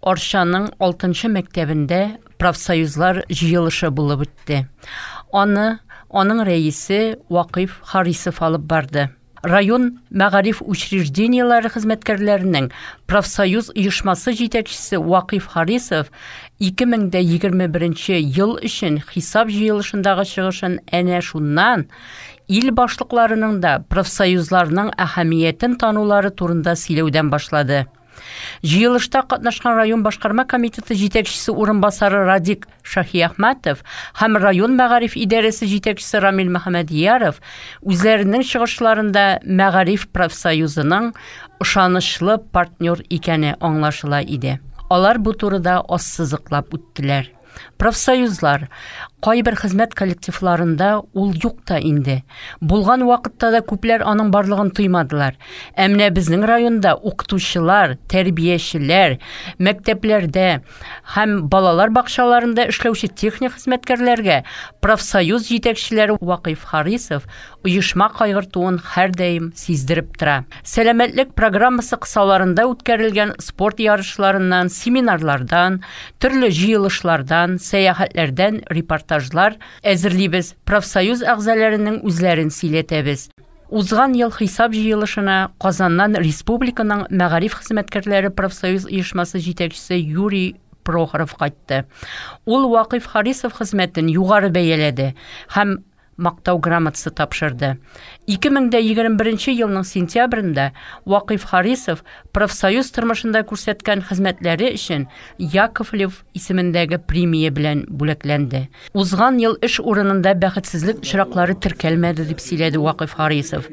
Арчаның алтынчы мәктәбендә профсоюзлар җыелышы булып үтте. Аны аның рәисе Вакыйф Харисов алып барды. Район мәгариф учреждениеләре хезмәткәрләренең профсоюз оешмасы җитәкчесе Вакыйф Харисов 2021 ел өчен хисап җыелышындагы чыгышын әнә шуннан Ил башлыкларының да профсоюзларның әһәмиятен танулары турында сөйләүдән башлады. Җыелышта катнашкан район башкарма комитеты җитәкчесе урынбасары Радик Шаһиәхмәтов һәм район мәгариф идарәсе җитәкчесе Рамил Мөхәммәдияров үзләренең чыгышларында мәгариф профсоюзының ышанычлы партнер икәне аңлашыла иде. Алар бу турыда ассызыклап үттеләр. Профсоюзлар, кайбер хезмәт коллективларында ул юк та инде. Булган вакытта да күпләр аның барлыгын тоймадылар. Ә менә безнең районда укытучылар, тәрбиячеләр, мәктәпләрдә һәм балалар бакчаларында эшләүче техник хезмәткәрләргә профсоюз җитәкчеләре Вакыйф Харисов оешма кайгыртуын һәрдаим сиздереп тора. Сәламәтлек программасы кысаларында үткәрелгән спорт ярышларыннан, семинарлардан, төрле җыелышлардан, сәяхәтләрдән репортажлар әзерлибез, профсоюз әгъзаләренең үзләрен сөйләтәбез. Узган ел хисап җыелышына Казаннан республиканың мәгариф хезмәткәрләре профсоюз оешмасы җитәкчесе Юрий Прохоров кайтты. Ул Вакыйф Харисов хезмәтен югары бәяләде һәм Мактау грамотасы тапшырды. 2021 елның сентябрендә Вакыйф Харисов профсоюз тормышында күрсәткән хезмәтләре өчен Яковлев исемендәге премия белән бүләкләнде. Узган ел эш урынында бәхетсезлек очраклары теркәлмәде, дип сөйләде Вакыйф Харисов.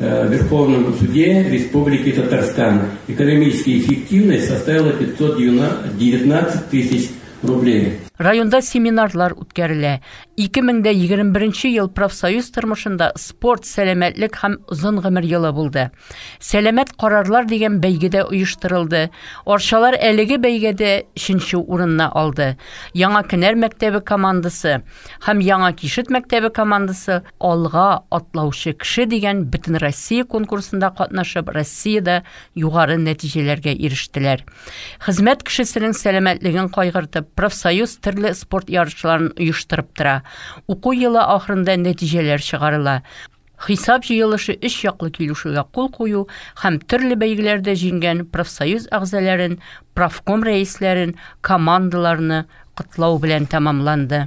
Э, Верховному суде Республики Татарстан. Экономическая эффективность составила 519 тысяч рублей. Районда семинарлар үткәрелә. 2021 ел профсоюз тормышында спорт, сәламәтлек һәм озын гомер елы булды. Сәламәт карарлар дигән бәйгедә оештырылды. Арчалар әлеге бәйгедә 3 урынны алды. Яңа Кенәр мәктәбе командасы һәм Яңа Кишет мәктәбе командасы Алга атлаучы кеше дигән бөтенроссия конкурсында катнашып, Россиядә югары нәтиҗәләргә ирештеләр. Хезмәт кешесенең сәламәтлеген кайгыртып, профсоюз төрле спорт ярышларын оештырып тора. Уку елы ахырында нәтиҗәләр чыгарыла. Хисап җыелышы өч яклы килешүгә кул кую һәм төрле бәйгеләрдә җиңгән профсоюз әгъзаләрен, профком рәисләрен, командаларны котлау белән тәмамланды.